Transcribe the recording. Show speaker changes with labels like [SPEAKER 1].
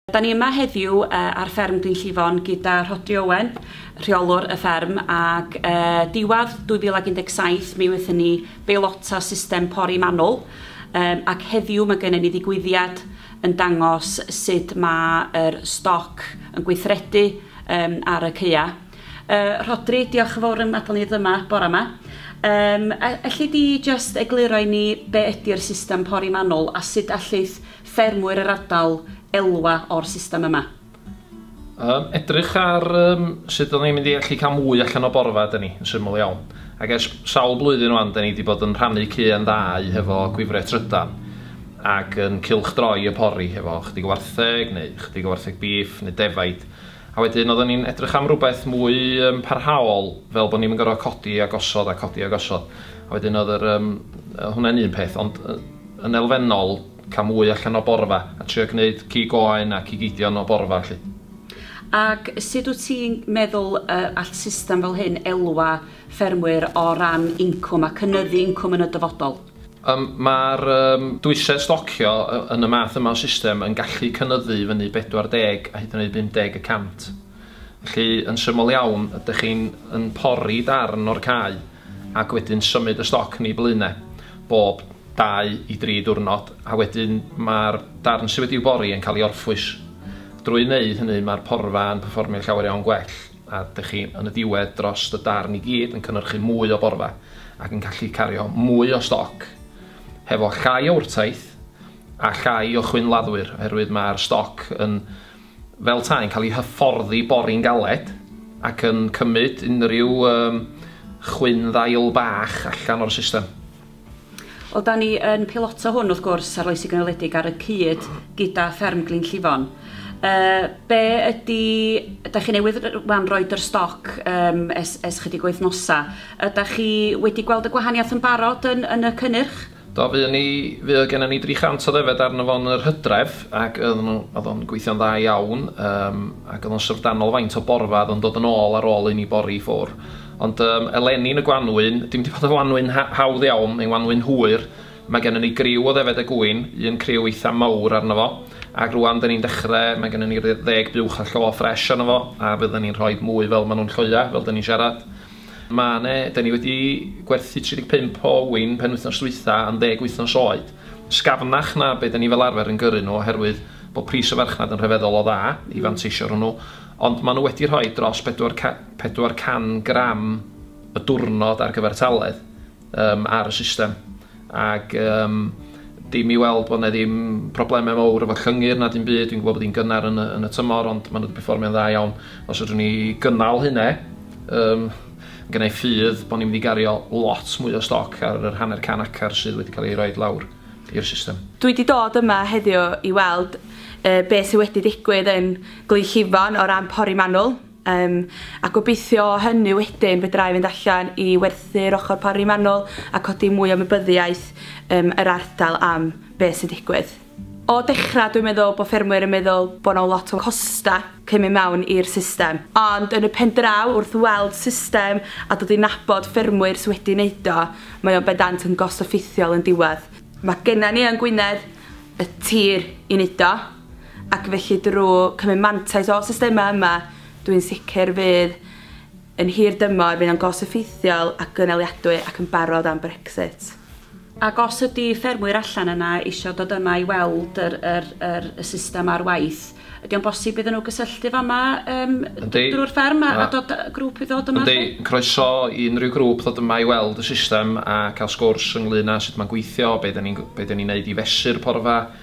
[SPEAKER 1] Da ni yma heddiw ar fferm Dinllifon gyda Rhodri Owen, rheolwr y fferm, ac diwadd 2017 mi wnaethon ni beilota system pori manwl, ac heddiw mae gennym ni ddigwyddiad yn dangos sut mae'r stoc yn gweithredu ar y caeau. Rhodri, diolch yn fawr am adael ni ddod yma bore yma. Elli di jyst egluro i ni be ydy'r system pori manwl a sut allith ffermwyr yr ardal elwa o'r system yma. Yym,
[SPEAKER 2] edrych ar yym, sut o'n ni'n mynd i allu cael mwy allan o borfa, da ni, yn syml iawn. Ac ers sawl blwyddyn o'n, da ni wedi bod yn rhannu cyn ddau hefo gwifre trydan ac yn cylchdroi y pori hefo chdig o wartheg neu chdig o wartheg bîff neu defaid A wedyn oedden ni'n edrych am rywbeth mwy yym parhaol, fel bod ni'm yn gorfod codi a gosod a codi a gosod. A wedyn oedd yr yym yy hwnna'n un peth, ond yy yn elfennol cael mwy allan o borfa a trio gwneud cig oen a cig eidion o borfa 'lly. Ac
[SPEAKER 1] sut wyt ti'n meddwl yy all system fel hyn elwa ffermwyr o ran incwm a cynyddu incwm yn y dyfodol? Yym mae'r
[SPEAKER 2] yym dwysedd stocio y- yn y math yma o system yn gallu cynyddu i fyny 40 a hyd yn oed 50 y cant. Felly, yn syml iawn, ydych chi'n yn pori darn o'r cae ac wedyn symud y stoc yn ei blun e bob dau i dri diwrnod a wedyn mae'r darn sydd wedi'i bori yn cael ei orffwys. Drwy wneud hynny, mae'r porfa yn perfformio llawer iawn gwell. a dych chi yn y diwedd dros y darn i gyd yn cynhyrchu mwy o borfa ac yn gallu cario mwy o stoc hefo llai o wrtaith a llai o chwynladdwyr oherwydd mae'r stoc yn fel ta yn cael ei hyfforddi bori'n galed ac yn cymryd unrhyw um, chwyn ddail bach allan o'r system. Wel,
[SPEAKER 1] da ni yn piloto hwn, wrth gwrs, arloesi gynaliedig ar y cyd gyda Fferm Glyn Llifon. Uh, be ydy... Da chi newydd wan roed yr stoc um, es, es chydig wythnosa. Yda chi wedi gweld y gwahaniaeth yn barod yn, yn y cynnyrch? Do, fuon ni,
[SPEAKER 2] fuodd gennym ni 300 o ddefed arno fo yn yr Hydref, ac oedd nhw, oedd o'n gweithio'n dda iawn, um, ac oedd o'n syfrdanol faint o borfa oedd o'n dod yn ôl ar ôl un i bori i ffwr. Ond yym eleni yn y gwanwyn, dim 'di bod yn wanwyn ha- hawdd iawn, mae'n wanwyn hwyr, mae gennym ni griw o ddefed a gŵyn, un criw eitha' mowr arno fo, ac rŵan 'dan ni'n dechre, mae gennym ni ryw ddeg buwch a llo ffresh arno fo, a fyddan ni'n rhoid mwy fel ma' nhw'n lloia', fel 'dan ni'n siarad. Ma' 'ne, 'dan ni wedi gwerthu 35 o ŵyn penwythnos dwytha' yn ddeg wythnos oed, sgafnach na be' 'dan ni fel arfer yn gyrru nhw oherwydd bod pris y farchnad yn rhyfeddol o dda i fanteisio arnyn nhw, ond ma' nhw wedi rhoi dros bedwar ca- 400 gram y diwrnod ar gyfer taledd um, ar y system. Ac um, dim i weld bod yna ddim problemau mawr efo llyngyr na dim byd. Dwi'n gwybod bod hi'n gynnar yn y, yn y tymor, ond maen nhw wedi performio'n dda iawn. Os ydwn ni gynnal hynna, um, gynnau ffydd bod ni'n mynd i gario lot mwy o stoc ar yr hanner can acar sydd wedi cael ei roi lawr i'r system. Dwi wedi dod yma
[SPEAKER 3] heddiw i weld uh, beth sydd wedi digwydd yn Glyn Llifon o ran pori manwl. Yym, a gobeithio o hynny wedyn fedra i fynd allan i werthu'r ochr pori manwl a codi mwy o ymwybyddiaeth yym yr ardal am be' sy'n digwydd. O dechra dwi'n meddwl bo' ffermwyr yn meddwl bo' 'na lot o costa cyn myn' mewn i'r system, ond yn y pen draw wrth weld system a dod i nabod ffermwyr sy wedi neud o, mae o'n bendant yn gost effeithiol yn diwadd. Ma' genna ni yng Ngwynedd y tir i neud o. ac felly drwy cymryd mantais o'r systemau yma, dw i'n sicr fydd yn hir dymor fydd o'n gos-effeithiol a gynaliadwy ac yn barod am Brexit. Ac os
[SPEAKER 1] ydy ffermwyr allan yna eisiau dod yma i weld yr, yr, yr, y system ar waith, ydy o'n bosib iddyn nhw gysylltu fama um, drwy'r fferm a, a dod grŵp i ddod yma? Ydy, croeso
[SPEAKER 2] i unrhyw grŵp ddod yma i weld y system a cael sgwrs ynglyn â sut mae'n gweithio, beth ydyn ni'n ni neud i fesu'r porfa,